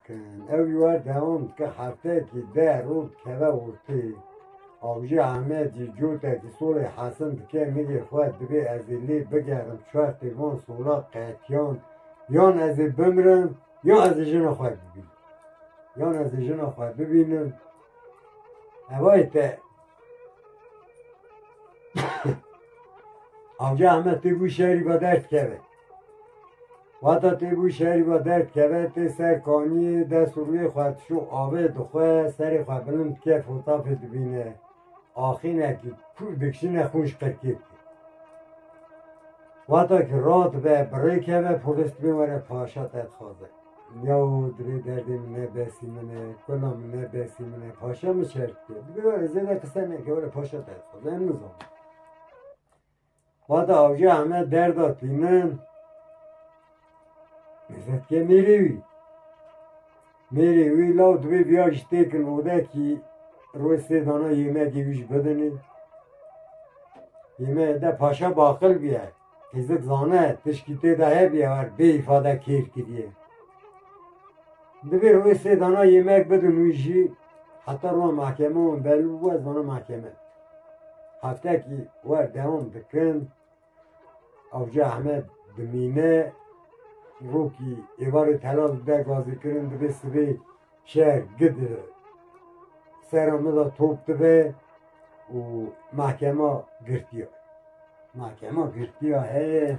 Ew ji we dewam dike, hefteyekî deh roj dikeve ortê. Avcî Amed jî cotekî solê Hesin dike, Nigê xwe divê ez ê lê bigerim çwertê van sola qetiyan yan ez ê bimrim yan ez ê jina xwe bibînim. Yan ez ê jina xwe bibînim. Evayê te Avcî Amed tê bû şerî ve derdikeve. Wata tê bû şerî ve derd keve tê ser kaniyê dest û rûyê xwe tişo avê dixwe serê xwe bilind dike fotafê dibîne axînekî kûr dikişîne xûn ji qirkê dike. Wata kî radibe bi rê keve polîs dibê were paşa te dixwaze. Yaw divê derdê min nebesî min e kula min nebesî min e paşa min şer dike dibê were zêde qise neke were paşa te dixwaze em nizanin. Xwedî awcê heme derda tî min. Nezetkê mêrê wî. Mêrê wî law dibê biya ji têkin odekî roj sê dana yêmekê wî ji bidinê. Yêmeyê de paşa baqil bîye. Hêzik zane tişkî tê de hebîye war bê îfade kêr kiriye. Dibê roj sê dana yêmek bidin wî jî Heta rûna mahkeme û belû bû ez zana mahkeme. Heftekî wer dewam dikin Avcı Ahmed dimîne rûkî êvarê telal de gazîkirin dibê sibê şer gid sera min de top dibe û mahkema girtiya. Mahkema girtiya heye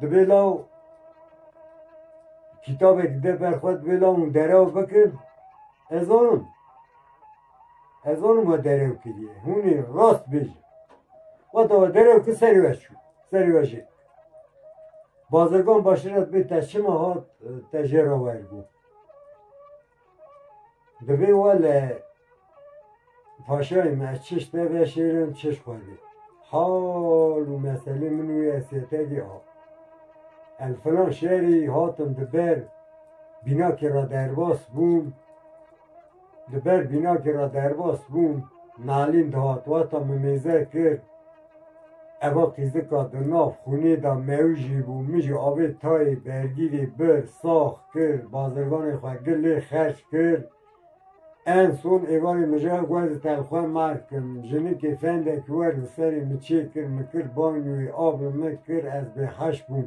Divê law kitabek de ber xwe divê law min derew bikin. Ez zanim. Ez zanim we derew kiriye. Hûnê rast bêjin. Weta we derew ki serê we çû. Serê we jê. Bazirgan başiret bê te çima hat te jê re wergo. Divê we li paşayê me ez çiş te veşêrim çiş xwe dê. Hal û meselê min wê ez sêtedî a. El filan şerî hatim di ber bînakê ra derbas bûm. Di ber bînakê ra derbas bûm, nalîn dihat wata min mêze kir. Eva fîzika di nav xûnê de mewjî bû, min jî avê tayê bergîrê bir, sax kir, bazirganê xwe gil lê xerç kir. En son êvarê mijara guhê di telxwe ma dikim. Jinikê fendekî wer li serê min çêkir, min kir banyoyê, av li min kir, ez bêheş bûm.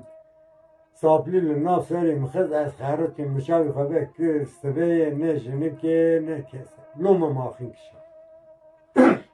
Saplî li nav serê min xist, ez xeritîm, min çavê xwe vekir, siveyê ne jinikê ne kes e. Loma min axin kişand.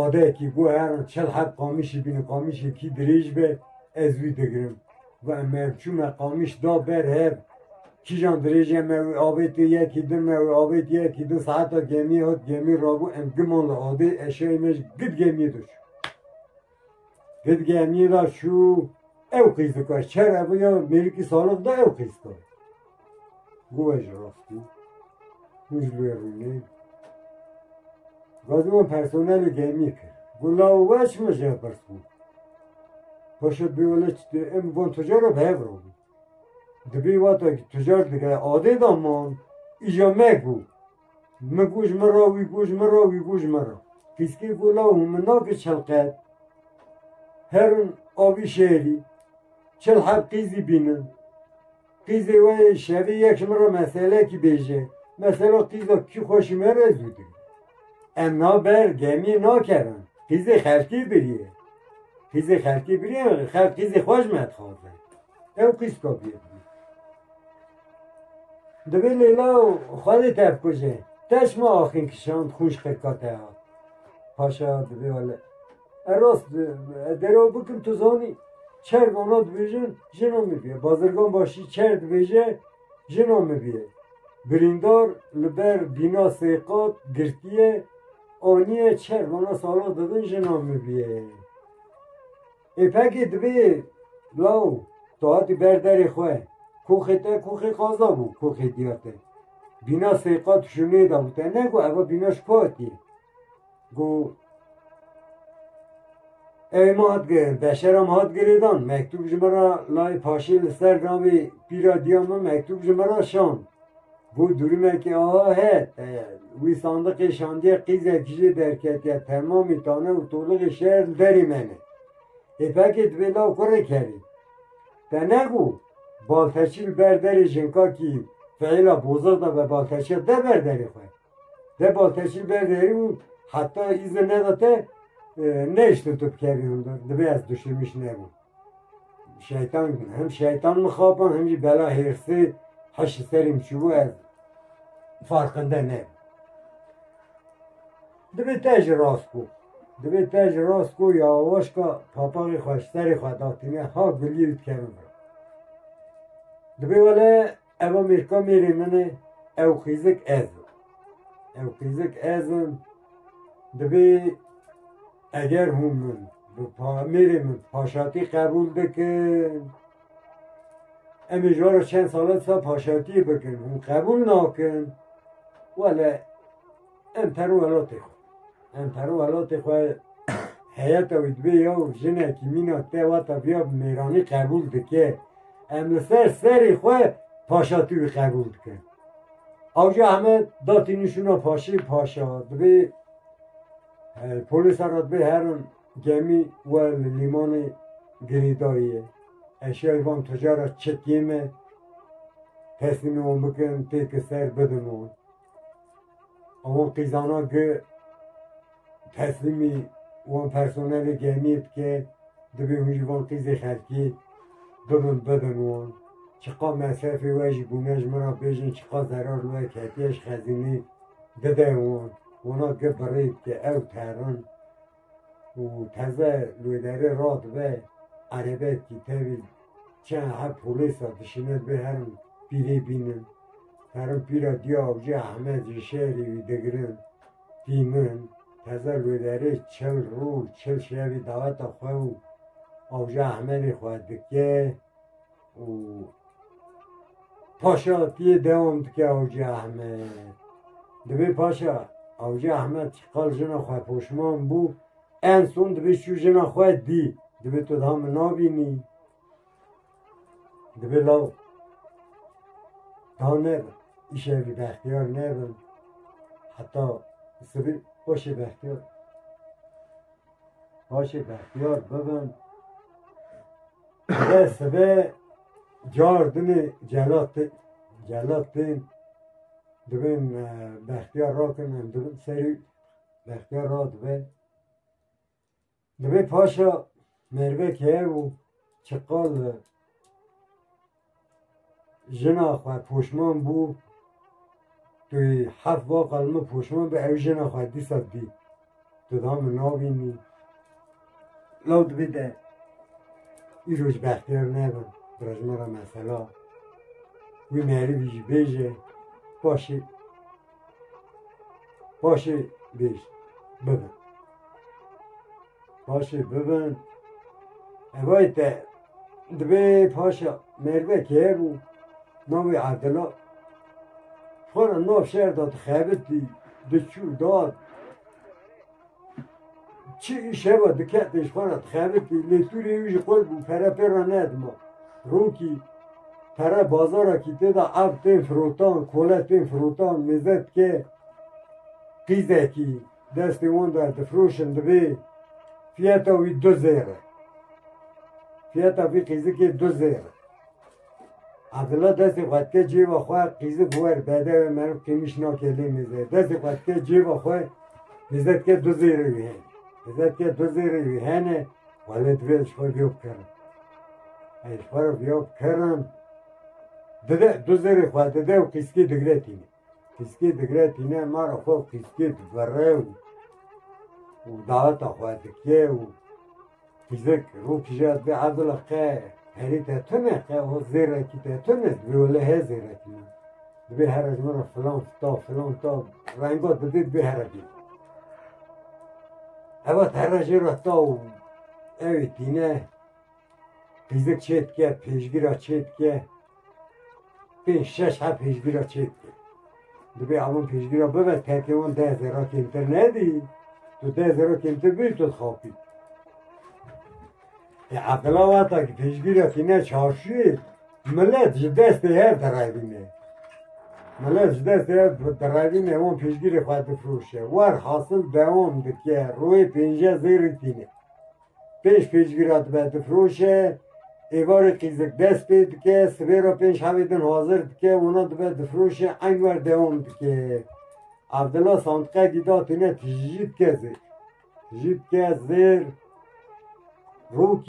adayekî got herin çil heb qamişî bînin qamişê kî dirêj be ez wî digirim got em ev çû me qamiş da ber hev kîjan dirêjê me wî avêtê yekî din me wî avêtê yekî din saeta gemî hat gemî rabû em giman li adê eşeyê me ji gid gemîyê de çûn Ged gemî ra çû ew qîz dika çere bû ya mêrikî salix da ew qîz ka. Guve ji rastî. Hûn ji lê rûnê. Gazî wan personelê gemî kir. Gula û weş min jê pirs bû. Paşa bê wele çi em wan tucar ra bi hev ra bû. Dibê wata ki tucar dike adê da man îja me bû. Mi ku ji min re wî ku ji min re wî ku ji min re. Pîskî ku law hûn min nake çelqet. Her in avî şerî. Çil heb qîzî bînin. Qîzê wê şerî yek ji min re meselekî bêje. Mesela qîza kî xweşî me re zû dikin. Em naber gemî nakerin. Qîzê xelkî biriye. Qîzê xelkî biriye xelk qîzê xwe ji me dixwaze. Ew qîz ka bêdibî. Divê lêla û xwedê tevkuje. Teş ma axin kişand xûn ji xirka te hat. Paşa divê wele E rast bi, ez dê re bikim tu zanî. Çerg ona dibêjin jina min bîye. Bazirgan başî çer dibêje jina min bîye. Birîndar li ber bîna sê qat girtiye, aniye çerg ona sala didin jina min bîye. Êpekê dibê law tahatî ber derê xwe koxê te koxê qaza bû koxê diya te bîna sey qat şûnê da bû te ne ku eva bîna ji ku hatî ku Ev ma hat girin beşera ma hat girêdan mektûb ji min re layê paşê li ser navê pîra diya min mektûb ji min re şand Ku durûmeke ava heye teye. Wî sandiqê şandiye qîzek jê derketiye temamî tane û tolixê şer li derê me ne. Hêfekê divê law kurê kerî. Te ne ku balteçî li ber derê jinkakî feyla boza da be balteçiya de ber derê xwe. Te balteçî li ber derê û heta îzin neda te e, nehiştin tu bikevî hundir. Divê ez duşîmiş nebûm. Şeytan hem şeytan mı xapa hem jî bela hêrsê heşi serî min çûbû ez farqinde ne. Divê te ji rast bû. Divê te ji rast bû ya waşka papaxê xwe ji serê xwe datîne ha gulî û dikevin. Divê wele Eva mêrka mêrê min e, ew xîzik ez im. Ew xîzik ez im, divê eger hûn min bi pa mêrê min paşatî qebûl bikin, em ê ji wan re çend sal e disa paşatiyê bikin, hûn qebûl nakin, wele Em per û welatê xwe. Em per û welatê xwe heyeta wî dibê ya û jinekî mîna te wata viya bi mêranî qebûl dike. Em li ser serê xwe paşatî wî qebûl dikin. Awca heme datî nişûna paşê paşa dibê polîsa re dibê herin gemî we li lîmanê girêdayê. Eşyayê van tucara çekê me teslîmê wan bikin têkil ser bidin wan. Ewan qîzana gi teslîmî wan personelê gemiyê bike divê hûn jî van qîzê xelkî bibin bidin wan. Çiqa mesrefê we jî bûne ji min re bêjin çiqa zerar li we ketiye ji xezînê dide wan. Wana gi birêd ke ew terin. û teze li wê derê radibe erebeyekî tevî çend heb polîsa dişîne bê herin pîrê bînin. Herin pîra diya avcî Ehmed ji şerî wî digirin tînin. Teze li wê derê çil rûj çil şevî daweta xwe û avcî Ehmedê xwe dike. û paşa tiyê dewam dike Awcî Ehmed. Divê paşa Awcî Ehmed çi qal jina xwe poşman bû, en son divê çû jina xwe dî. Divê tu daha min nabînî. Divê law daha ne îşevî bextiyar nebin. Heta sivî paşê bextiyar paşê bextiyar bibin. Ve sibe cardinê celat tê celat tên dibên e, bextiyar rakin em dibin serî bextiyar ra dibe. Dibê paşa mervek heye û çiqal e, Jina xwe poşman bû. Tu yê heft va qal min poşman bî ew jina xwe dîsa didî. Tu daha min nabînî. Law dibê te îro ji bextiyar nebe bi rejmara mesela. Wî merivî jî bêje paşê Paşê bêj bibin. Paşê bibin. Evayê te dibê paşa merve keye bû. Navê Adila. Xwara nav şer da dixebitî, diçû da Çi şeva dike pêş xwe re dixebitî lê Sûrî wî ji xwe bû pere pê re nedima. Rokî pere bazarekî tê de ev tên firotan, kole tên firotan, mêze dike qîzekî destê wan de difiroşin divê fiyeta wî du zêr e. Fiyeta vî qîzikê du zêr e. Abdullah destê xwe dike cêba xwe qîzi bi wer bede we meriv kêmiş nakê lê mêze. Destê xwe dike cêba xwe mêze dike du zêrê wî hene. Mêze dike du zêrê wî hene wele divê ji xwe vêw bikirin. Ez ji xwe re vêw bikirin dide du zêrê xwe dide û qîskî digre tîne. Fiskê digre tîne ma re xwe fiskê divere û û daeta xwe dike û fizik rûkije bi evdile qe herî te tune qe o zêrekî te tune divê wele he zêrekî min. Divê here ji min re filan ta filan ta renga dibê divê here bî. Heva here jê re ta û ew ê tîne Pirsgir çê dike, pêşgira çê dike. Pê şeş heft pêşgira çê dike. Dibê avan pêşgira bibe tekê wan deh zera kêmtir nebî. Tu deh zera kêmtir bî tu dixapî. E aqila wata ki pêşgira tîne çarşûyê millet ji destê her direvîne. Millet ji destê her direvîne wan pêşgirê xwe difroşe. Wer hasil dewam dike royê pênce zêrî tîne. Pênc pêncgîra dibe difiroşe, êvarê qîzik dest pê dike, sibê re pênc hevê din hazir dike, wana dibe difiroşe, eyn wer dewam dike. Evdila sandiqekî da têne tijî dike zêr. Tijî dike zêr. Rokî.